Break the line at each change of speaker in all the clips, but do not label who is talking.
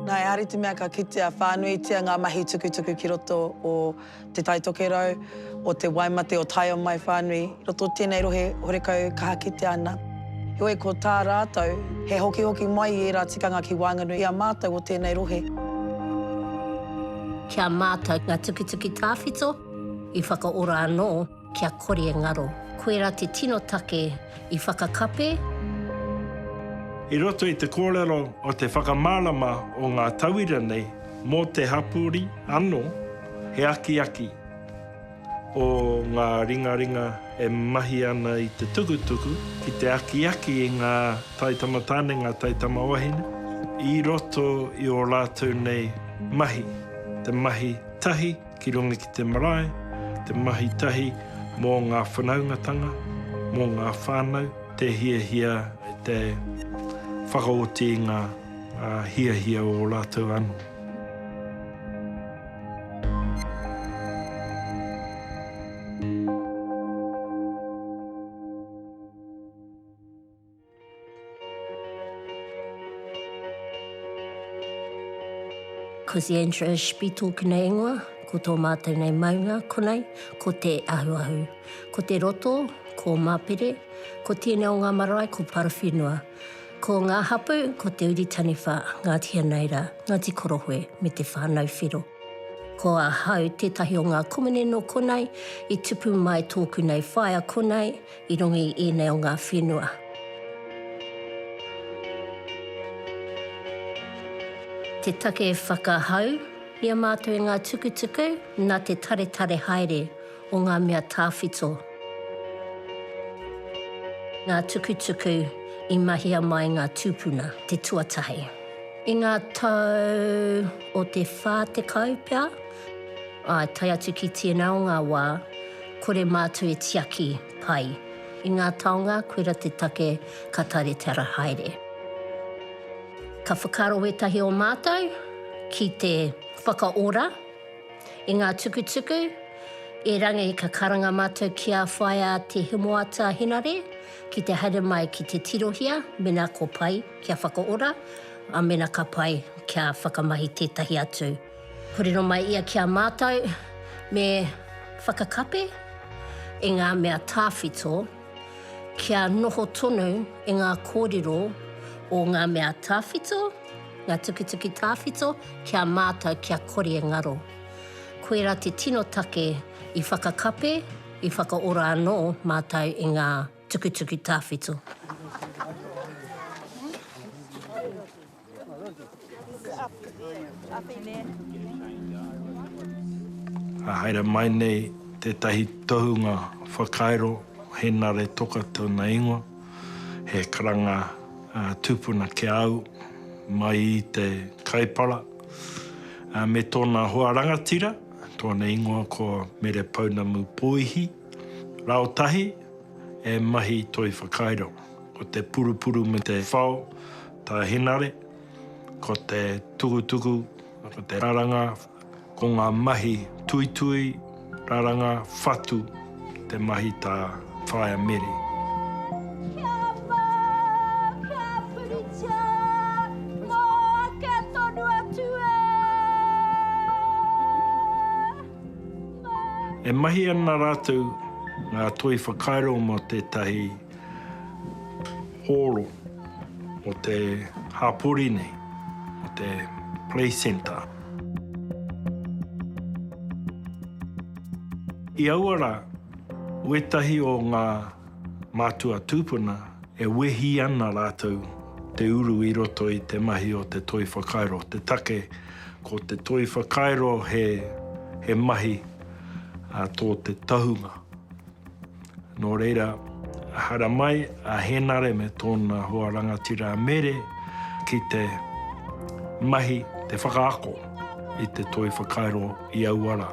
Nā Eari te mea ka kitea whānuitia ngā mahi tukutuku ki roto o Te Tai Tokerau, o te waimate o Taio Mai whānui i roto o tēnei rohe horekau kaha kitea ana. Heoi, ko tā rātou, he hokihoki mai i ērā tikanga ki waenganui i a mātou o tēnei rohe. Ki a mātou ngā tukituki tāwhito i whakaora anō. Kia kore e ngaro. Koirā te tino take i whakakape. I roto i te kōrero o te whakamārama o ngā tauira nei mō te hapori anō, he akiaki ō ngā ringaringa e mahi ana i te tukutuku ki te akiaki i ngā taitamatāne, ngā taitamawahine, i roto i ō rātou nei mahi, te mahi tahi. Ki runga ki te marae, te mahi tahi mō ngā whanaungatanga, mō ngā whānau, te hiahia, te whakaoti i ngā hiahia o ō rātou anō. Ko the interest be talking a ingoa, ko tō mātou nei maunga, konei, ko Te Ahuahu. Ko te roto, ko Mapere, ko tēnei o ngā marae, ko Parawhenua. Ko ngā hapu, ko Te Uri Taniwha, Ngāti Hanaira, Ngāti Korohue me Te Whānau Whero. Ko ahau tētahi o ngā komene nō konei, i tupu mai tōku nei whaea konei, I runga i ēnei o ngā whenua. Te take whakahau, i a mātou i ngā tukutuku nā te taretare haere o ngā mea tāwhito. Ngā tukutuku i mahia mai ngā tūpuna te tuatahi. I ngā tau o te whā tekau pea, āe tae atu ki tēnā o ngā wā, Kore mātou e tiaki pai. I ngā taonga koira te take ka taretara haere. Ka whakaaro wētahi o mātou ki te whakaora i ngā tukutuku, erangi ka karanga mātou ki a Whaea Te Hemoata Henare ki te haere mai ki te tirohia mena ko pai kia whakaora, a mena ka pai kia whakamahi tētahi atu. Kōrero mai ia ki a mātou me whakakapi i ngā mea tāwhito kia noho tonu i ngā kōrero o ngā mea tāwhito, ngā tukituki tāwhito ki a mātou kia kore e ngaro. Koirā te tino take i whakakapi, i whakaora anō mātou i ngā tukituki tāwhito. Ka haere mai nei tētahi tohunga whakairo Henare Toka tōna ingoa, he karanga tūpuna ki a au mai i te Kaipara me tōna hoa rangatira, tōna ingoa ko Mere Pounamu Pōihi, rāotahi e mahi toi whakairo. Ko te purupuru me te whao tā Henare, ko te tukutuku, ko te raranga, ko ngā mahi tuitui, raranga, whatu te mahi tā Whaea Mere. Kia whā, kia puritia, mō ake tonu atu e Māui. E mahi ana rātou ngā toi whakairo mō tētahi. hōro o te hapori nei, o te play centre. I aua rā, wētahi o ngā mātua tūpuna e wehi ana rātou te uru i roto i te mahi o te toi whakairo. Te take, ko te toi whakairo he mahi tō te tahunga. Nō reira, haramai a Hēnare me tōna hoa rangatira a Mere ki te mahi, te whakaako i te toi whakairo i aua rā.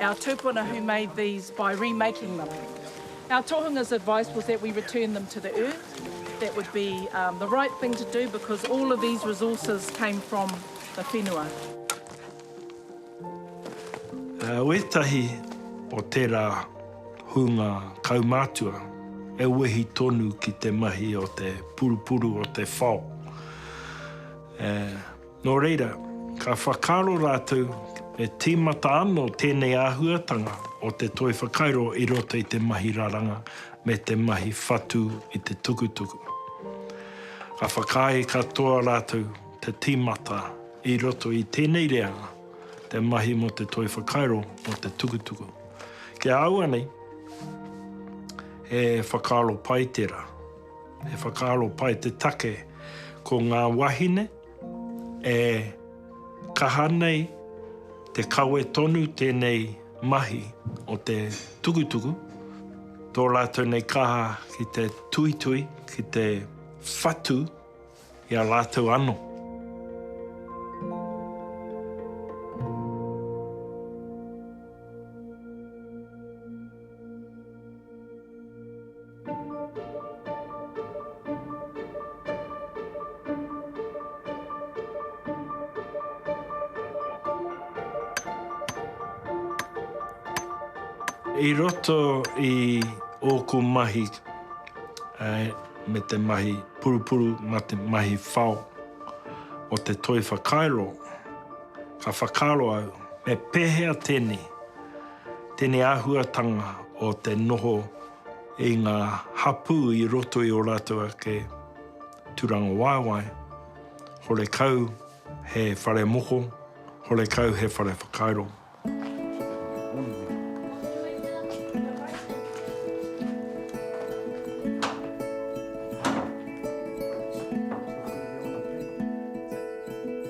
Our tupuna who made these by remaking them. Our tohunga's advice was that we return them to the earth, that would be the right thing to do because all of these resources came from the whenua. Wētahi o tērā hunga kaumātua e wehi tonu ki te mahi o te purupuru o te whao. Nō reira, ka whakaaro rātou he tīmata anō tēnei āhuatanga o te toi whakairo i roto i te mahi raranga me te mahi whatu i te tukutuku. Ka whakaae katoa rātou te tīmata i roto i tēnei reanga, te mahi mō te toi whakairo mō te tukutuku. Ki a au anei, he whakaaro pai tērā. He whakaaro pai te take ko ngā wāhine, E kaha nei te kawe tonu tēnei mahi o te tukutuku, tō rātou nei kaha ki te tuitui, ki te whatu i a rātou anō. I roto i ōku mahi me te mahi purupuru mā te mahi whao o te toi whakairo, ka whakaaro au, me pēhea tēnei, tēnei āhuatanga o te noho i ngā hapū i roto i ō rātou ake tūrangawaewae, horekau he whare moko, horekau he whare whakairo.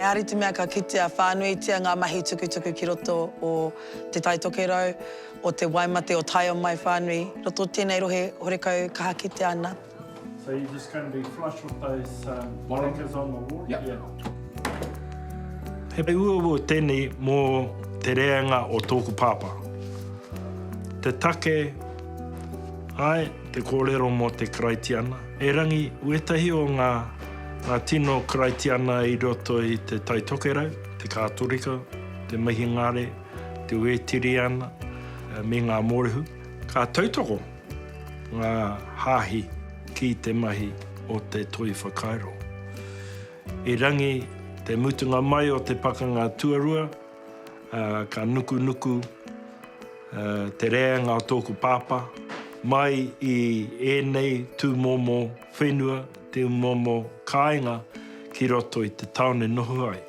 Engari te mea ka kitea, whānuitia ngā mahi tukutuku ki roto o Te Tai Tokerau. o te waimate o Taiao mai whānui roto tēnei rohe horekau kaha kitea ana. So you're just going to be flush with those um, markers on the wall? Yep. Yeah. He uaua tēnei mō te rēanga o tōku pāpā. Te take, ai, te kōrero mō te Karaitiana. Erangi, uetahi o ngā, ngā tino Karaitiana i roto i te Taitokerau, te Kātorika, te Mihingare, te Wētiriana me ngā Mōrehu, ka tautoko ngā hāhi ki te mahi o te toi whakairo. Erangi te mutunga mai o te Pakanga Tuarua, ka nukunuku te rēanga o tōku pāpā mai i ēnei tūmomo whenua, Te momo kāinga ki roto i te tāone noho ai.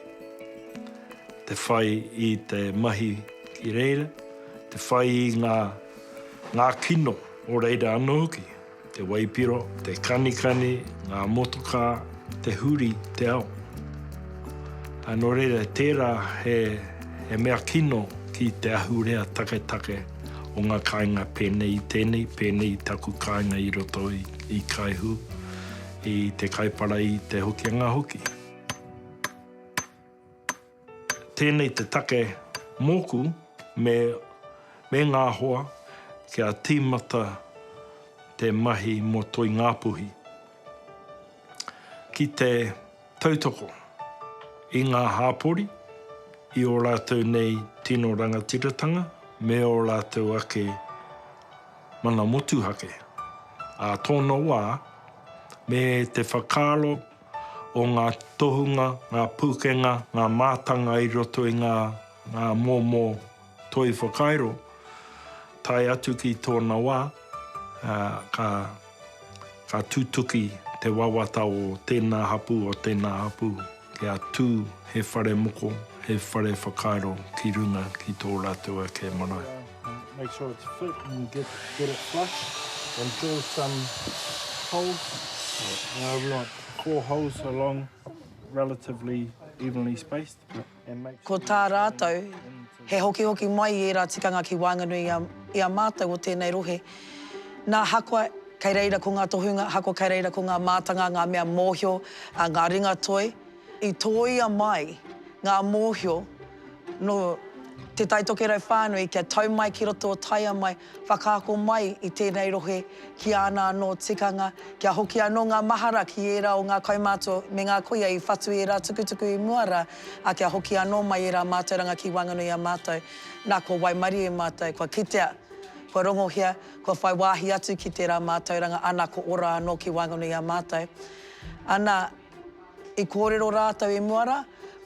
Te whai i te mahi ki reira, te whai i ngā ngā kino o reira anō hoki, te waipiro, te kanikani, ngā motokā, te huri, te ao. Ā, nō reira, tērā he, he mea kino ki te ahurea taketake o ngā kāinga pēnei i tēnei, pēnei i taku kāinga i roto i. i Kaihu, i Te Kaipara, i Te Hokianga hoki. Tēnei te take mōku me me ngā hoa kia tīmata te mahi mō Toi Ngāpuhi. Ki te Tautoko i ngā hāpori, i ō rātou nei tino rangatiratanga me ō rātou ake mana motuhake ā tōna wā, me te whakaaro o ngā tohunga, ngā pūkenga, ngā mātanga i roto i ngā momo. Toi whakairo, tae atu ki tōna wā, ka tutuki te wawata o tēnā hapū, o tēnā hapū, kia tū he whare moko, he whare whakairo ki runga ki tō rātou ake marae. Make sure it's fit and get it flush and drill some holes. We want core holes along relatively evenly spaced. Ko tā rātou, he hokihoki mai i ērā tikanga ki waenganui i a mātou o tēnei rohe. Nā Hakwa, kei reira ko ngā tohunga, Hakwa kei reira ko ngā mātanga, ngā mea mōhio, ngā ringatoi. I tōia mai ngā mōhio nō Te Taitokerau whānui kia tau mai ki roto o Taia mai, Whakaako mai i tēnei rohe ki āna anō tikanga, kia hoki anō ngā mahara ki ērā o ngā kaumātua me ngā kuia i whatu ērā tukutuku i mua rā, ā, kia hoki anō mai ērā mātauranga ki waenganui i a mātou. Nā, kua waimarie mātou, kua kitea, kua rongohia, kua whai wāhi atu ki tērā mātauranga, ana, ko ora anō ki waenganui i a mātou. Ana. I kōrero rātou i mua rā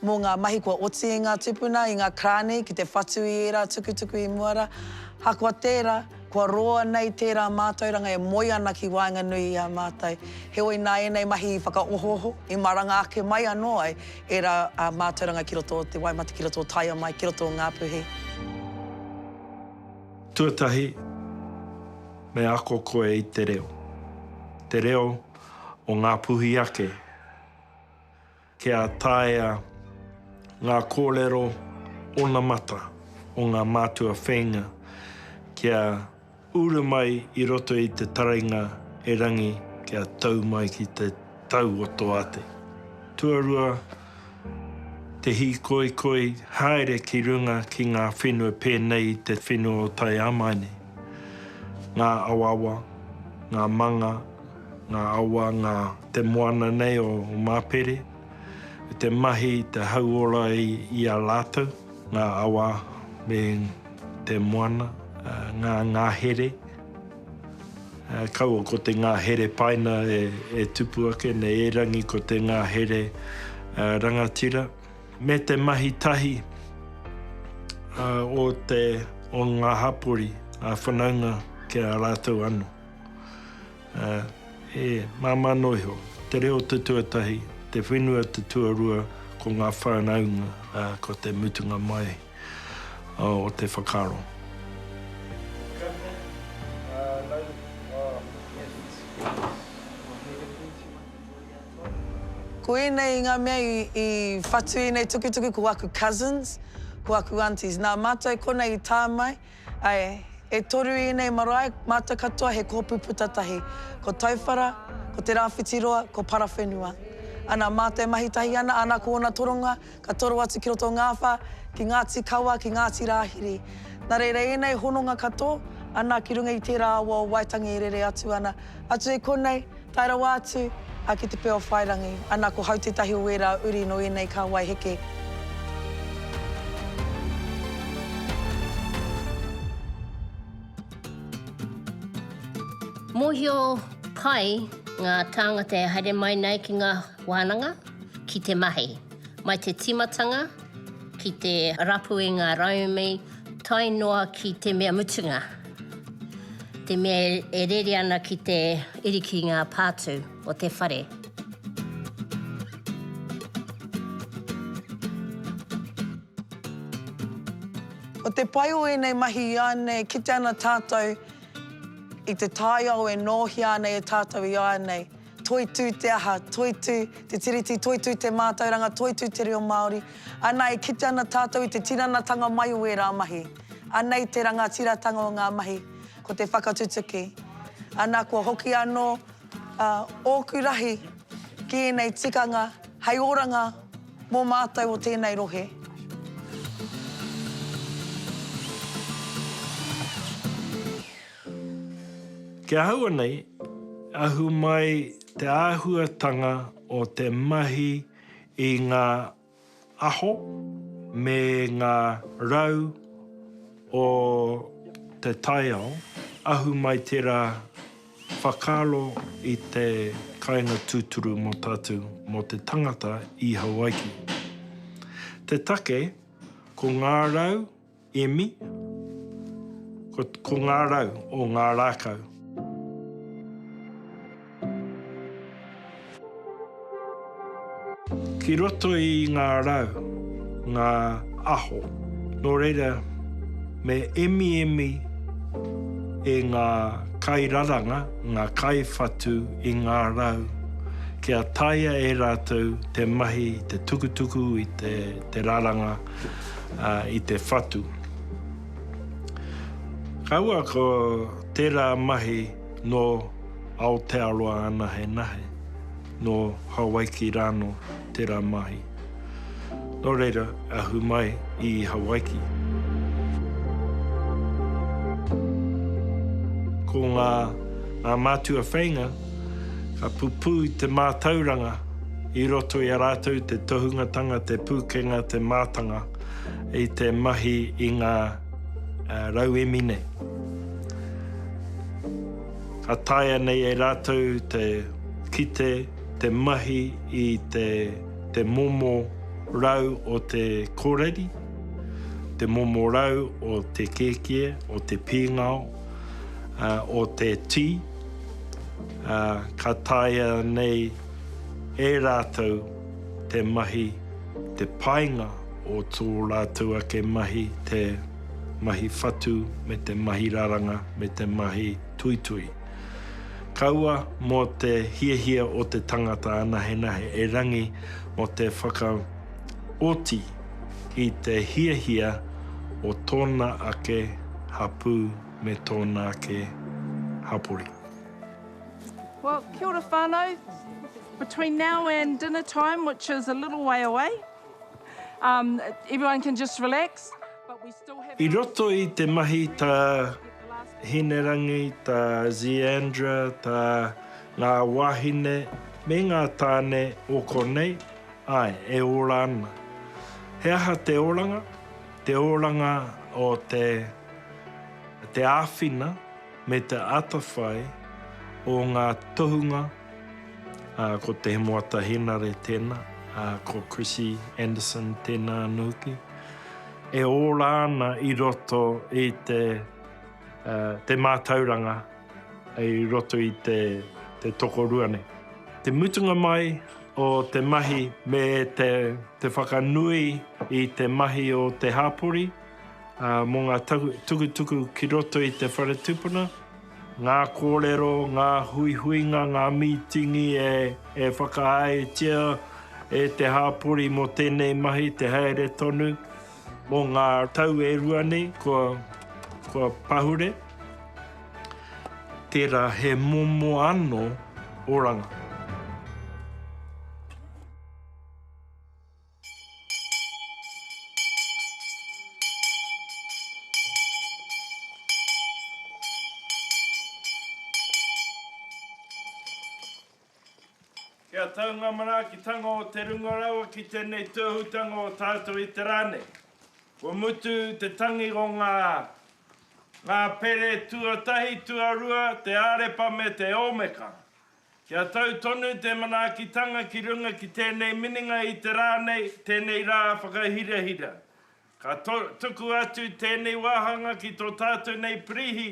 mō ngā mahi kua oti i ngā tūpuna, i ngā karāni ki te whatu i ērā tukutuku i mua rā. Ahakoa tērā, kua roa nei tērā mātauranga e moe ana ki waenganui i a mātou. Heoi nā ēnei mahi i whakaohooho, i maranga ake mai anō ai ērā mātauranga ki roto o te wai mate, ki roto o Taia mai, ki roto o Ngā Puhi. Tuatahi, me ako koe i te reo. Te reo o Ngāpuhi ake, kia taea ngā kōrero onamata o ngā mātua whēinga kia uru mai i roto i te taringa erangi kia tau mai ki te tau o Toate. Tuarua, Te hīkoikoi haere ki runga ki ngā whenua pēnei i te whenua o Taiāmaine. Ngā awaawa, ngā manga, ngā awa, ngā te moana nei o Māpere, me te mahi te hauora i a rātou, ngā awa me te moana, ngā ngahere. Kaua ko te ngahere paina e tupu ake nei, erangi ko te ngahere rangatira. Me te mahi tahi o te, o ngā hapori a whanaunga ki a rātou ano. E māmā noa iho, te reo te tuatahi, te whenua te tuarua, ko ngā whanaunga ko te mutunga mai. o te whakaaro. Ko ēnei ngā mea i whatu ēnei tukutuku ko aku cousins, ko aku aunties. Nā mātou konei i tā mai. Ae, e toru ienei marae, mata katoa he koopu puta tahi, ko Tauwhara, ko Te Raawhitiroa, ko Parawhenua. Ana maa te mahi tahi ana, ana ko ona toronga, ka toro atu ki roto Ngaawha, ki Ngaati Kawa, ki Ngaati Raahiri. Na reira ienei hononga katoo, ana ki runga i teera awa o Waitangi e rere atu ana, atu e konei, Tae rawa atu a ki te Pia o Whairangi, ana ko Hau tētahi o ērā uri nō ēnei kāwai heke. Mōhio pai ngā tāngata e haere mai nei ki ngā wānanga ki te mahi, mai te tīmatanga ki te rapu i ngā rauemi tae noa ki te mea mutunga. Te mea e rere ana ki te iri ki ngā pātū o te whare. Ko te pai o ēnei mahi iānei e kite ana tātou i te taiao e nōhia ana e tātou iānei. Toitū te aha, toitū te Tiriti, toitū te mātauranga, toitū te reo Māori. Anā, e kite ana tātou i te tinanatanga mai o ērā mahi. Anei te rangatiratanga o ngā mahi, ko te whakatutuki. Anā, kua hoki anō ōku rahi ki ēnei tikanga hei oranga mō mātou o tēnei rohe. Ki ahau anei, ahu mai te āhuatanga o te mahi i ngā aho me ngā rau o te taiao, ahu mai tērā whakaaro i te kāinga tūturu mō tātou, mō te tangata i Hawaiki. Te take, ko ngā rau, Emi, Ko, ko ngā rau o ngā rākau. Ki roto i ngā rau, ngā aho. Nō reira, me emiemi e ngā kairaranga, ngā kaiwhatu i ngā rau, kia taea e rātou te mahi, te tukutuku i te, te raranga, i te whatu. Kaua ko tērā mahi nō Aotearoa anahenahe, nō Hawaiki rānō tērā mahi. Nō reira, ahu mai i Hawaiki. Ko ngā mātua wheinga, Ka pupū te mātauranga i roto i a rātou te tohungatanga, te pūkenga, te mātanga i te mahi i ngā rauemi nei. Ka taea nei e rātou te kite, te mahi i te momo rau o te kōreri, te momo rau o te kēkie, o te pīngao, o te tī. ā, ka taea nei e rātou te mahi, te painga o tō rātou ake mahi, te mahi whatu me te mahi raranga me te mahi tuitui. Kaua mō te hiahia o te tangata anahenahe erangi mō te whakaoti i te hiahia o tōna ake hapū, me tōna ake hapori. Well, kia ora whānau. Between now and dinner time, which is a little way away, um, everyone can just relax. I roto i te mahi tā Hinerangi, tā Zeandra, tā ngā wāhine me ngā tāne o konei, āe, e ora ana. He aha te oranga? Te oranga o te. Te āwhina me te atawhai o ngā tohunga, ko Te Hemoata Henare tēnā, ko Chrissy Anderson tēnā anō hoki, e ora ana i roto i te mātauranga i roto i te tokorua nei. Te mutunga mai o te mahi me te whakanui i te mahi o te hapori, Mō ngā tukutuku ki roto i te whare tupuna, ngā kōrero, ngā huihuinga, ngā mītingi e whakaaetia e te hāpori mō tēnei mahi te haere tonu. Mō ngā tau e rua nei kua pahure, tērā he momo anō oranga. Kia tau ngā manaakitanga o te runga rawa ki tēnei tōhutanga o tātou i te rā nei. Kua mutu te tangi o ngā ngā pere tuatahi, tuarua, te Ārepa me te Ōmeka. Kia tau tonu te manaakitanga ki runga ki tēnei minenga i te rā nei, tēnei rā whakahirahira. Ka tuku atu tēnei wāhanga ki tō tātou nei Pirihi,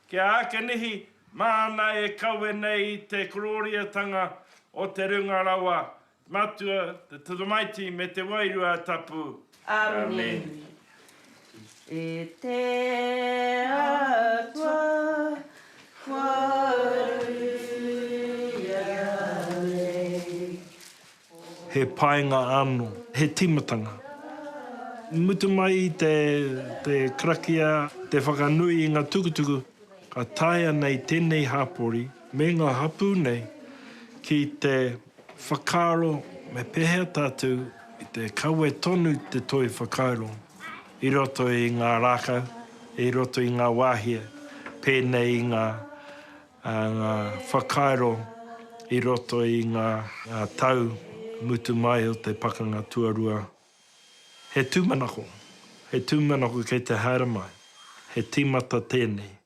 ki a Akenihi, māna e kawe nei i te korōriatanga o te Runga Rawa, Matua, te Tamaiti me te Wairua Tapu. Amen. E te Atua, kua ruia nei. He painga ano, he timatanga. Mutu mai i te karakia, te whakanui i nga tukutuku, ka taea nei tenei hapori me nga hapu nei ki te. Whakaaro, Me pēhea tātou i te kawe tonu te toi whakairo i roto i ngā rākau, i roto i ngā wāhia, pēnei i ngā whakairo i roto i ngā tau mutu mai o te Pakanga Tuarua? He tūmanako, he tūmanako kei te haere mai, he tīmata tēnei.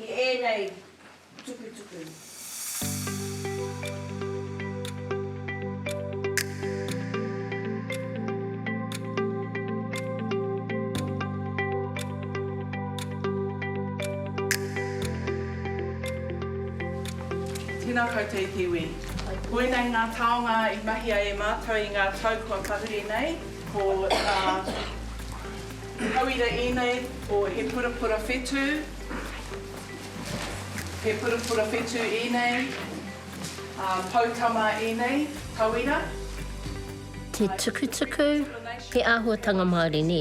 i ēnei tukutuku. Tēnā koutou e te iwi. Koinei ngā taonga i mahia e mātou i ngā tau kua tahuri nei, ko ngā tauira ēnei o He Purapura Whetū, He purapura whetū ēnei, ā, poutama ēnei, tauira, Te āhua tukutuku, te āhuatanga Māori, nē?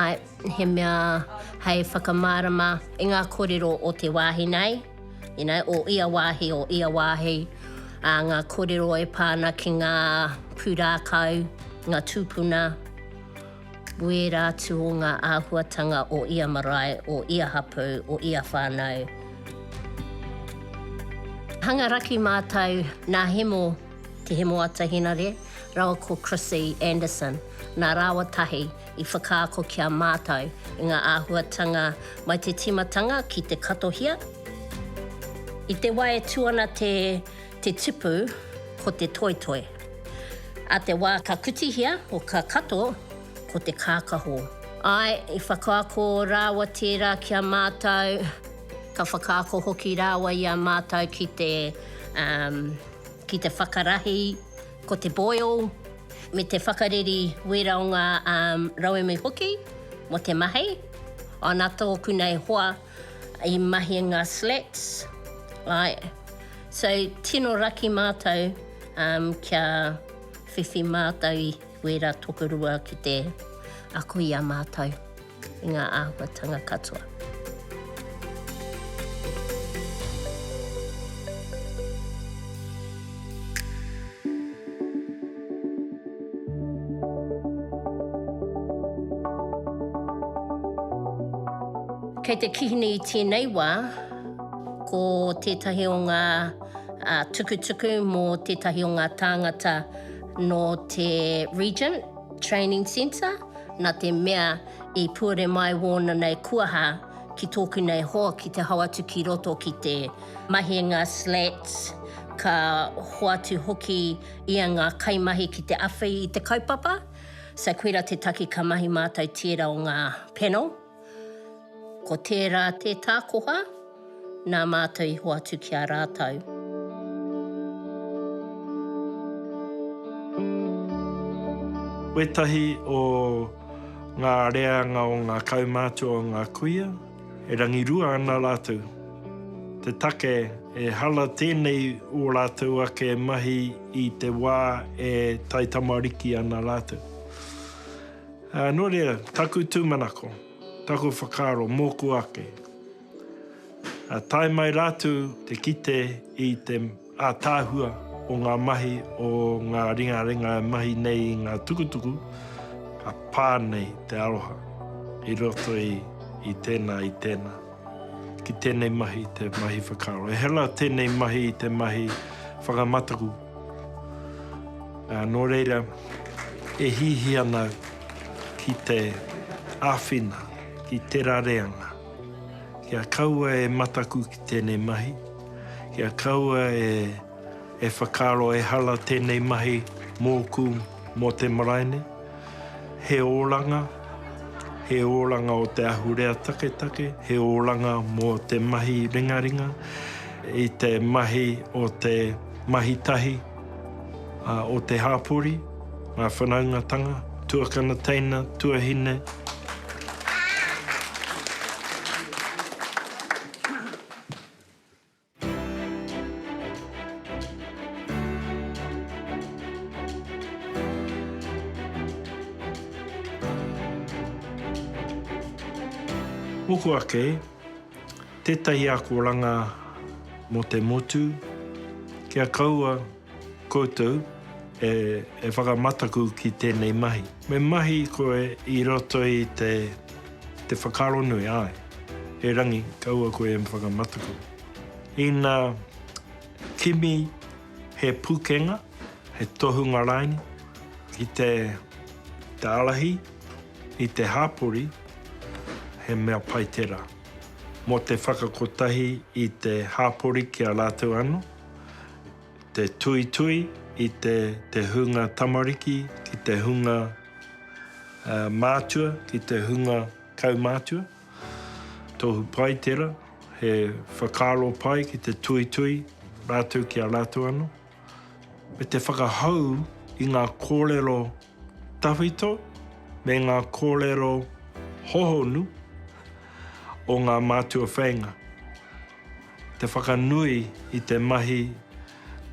Āe, he mea hei whakamārama i ngā kōrero o te wāhi nei, you know, o ia wāhi, o ia wāhi, ā, ngā kōrero e pā ana ki ngā pūrākau, ngā tūpuna. Wērā atu o ngā āhuatanga o ia marae, o ia hapū, o ia whānau. Hanga raki mātou nā Hemo, Te Hemo Atahinare, rawa ko Chrissie Anderson, nā rāua tahi i whakaako ki a mātou i ngā āhuatanga mai te tīmatanga ki te katohia. I te wā e tū ana te. Te tipu, ko te toetoe. A te wā ka kutihia, o ka kato, ko te kākahō. Āe, i whakaako rāua tērā ki a mātou, ka whakaako hoki rāua i a mātou ki te, um, ki te whakarahi, ko te boil, me te whakareri wera o ngā, um, rauemi hoki, mo te mahi. Ana tōku nei hoa. I mahi nga slats right so tino raki matou um kia whiwhi matou i wera tokorua ki te ako i a matou i nga ahuatanga katoa. Kei te kihini i tēnei wā, ko tētahi o ngā tukutuku mō tētahi o ngā tāngata nō te Regent Training Centre, nā te mea i puare mai wōna nei kuaha ki tōku nei hoa ki te hau atu ki roto ki te. mahinga slats, ka hoatu hoki ia ngā kaimahi ki te awhi i te kaupapa, so koira te take ka mahi mātou tērā o ngā panel, ko tērā te tākoha nā mātou i hoatu ki a rātou. Wētahi o ngā reanga o ngā kaumātua o ngā kuia. E rangirua ana rātou. Te take, e hala tēnei ō rātou ake mahi i te wā e taitamariki ana rātou. Ā, nō reira, taku tūmanako, taku whakaaro mōku ake, ā, tae mai rātou te kite i te. Ātaahua o ngā mahi o ngā ringaringa e mahi nei i ngā tukutuku, ka pā nei te aroha i roto i tēnā, i tēnā, ki tēnei mahi, te mahi whakaaro. E hela tēnei mahi i te mahi whakamataku, ā, nō reira, e hihi ana ki te āwhina, ki tērā reanga. Kia kaua e mataku ki tēnei mahi. Kia kaua e whakaaro ehara tēnei mahi mōku mō te marae nei. He oranga, he oranga o te ahurea taketake, he oranga mō te mahi ringaringa i te mahi o te mahi tahi o te hāpori, ngā whanaungatanga, tuakana teina, tuahine. Moko ake, tetahi akoranga mo te motu, kia kaua. Koutou e whakamataku ki tēnei mahi. Me mahi koe i roto i te whakaaro nui, āe. He rangi, kaua koe e whakamataku. Ina kimi he pukenga, he tohunga raini ki te ārahi i te hāpori, he mea pai tērā. Mō te whakakotahi i te hāpori ki a rātou anō. te tuitui i te, te hunga tamariki ki te hunga uh, mātua, ki te hunga kaumātua. Tohu pai tera, he whakaaro pai ki te tuitui rātou ki a rātou ano. Me te whakahau i ngā kōrero tawhito me ngā kōrero hohonu o ngā mātua wheinga, te whakanui i te mahi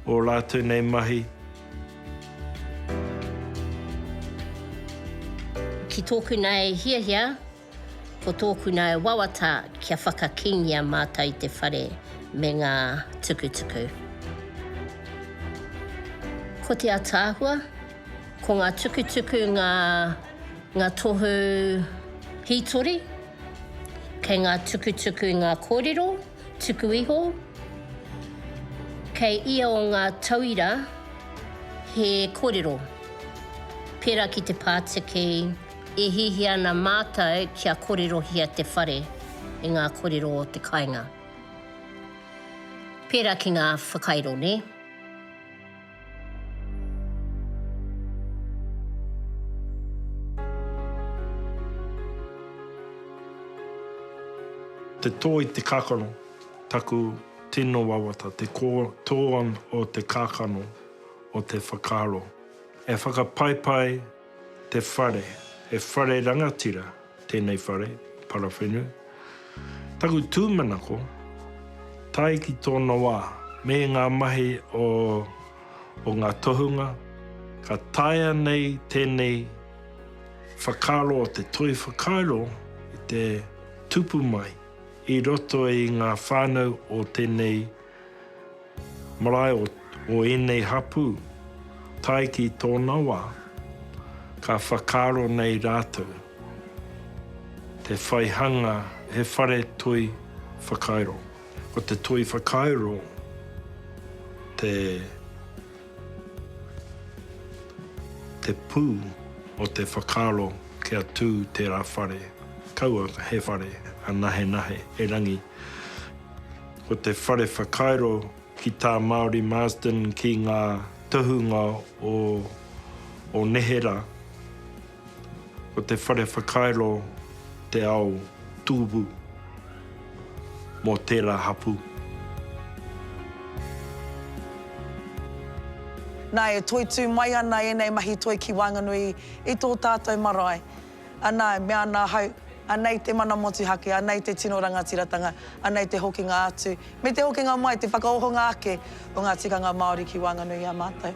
o rātou nei mahi. Ki tōku nei hiahia. Ko tōku nae wawata kia whakakīngia mātou i te whare me ngā tukutuku. Ko te ataahua, ko ngā tukutuku ngā ngā tohu hītori, kei ngā tukutuku ngā kōrero tuku iho, kei ia o ngā tauira he kōrero pērā ki te pātiki, E hiahia ana mātou kia kōrerohia te whare i ngā kōrero o te kāinga. Pērā ki ngā whakairo, nē? Te tō i te kākano, taku tino wawata, te kō tō o te kākano, o te whakaaro. E whakapaipai Te whare, he whare rangatira tēnei whare, parawhenu. Taku tūmanako, tae ki tōna wā, me ngā mahi o o ngā tohunga, ka taea nei tēnei whakaaro o te toi whakairo i te tupu mai i roto i ngā whānau o tēnei Marae o o ēnei hapū, tae ki tōna wā, ka whakaaro nei rātou te whai hanga he whare toi whakairo. Ko te toi whakairo te te pū o te whakaaro kia tū tērā whare, kaua he whare anahenahe, erangi. Ko te whare whakairo ki tā Māori Marsden ki ngā tohunga o o neherā, ko te whare whakairo te ao tūbu mō tērā hapū. Nā, e toitū mai ana ēnei mahi toi ki waenganui i tō tātou marae. Anā, e mea ana ahau, Anei te mana motuhake, anei te tino rangatiratanga, anei te hokinga atu, me te hokinga mai, te whakaohonga ake o ngā tikanga Māori ki waenganui i a mātou.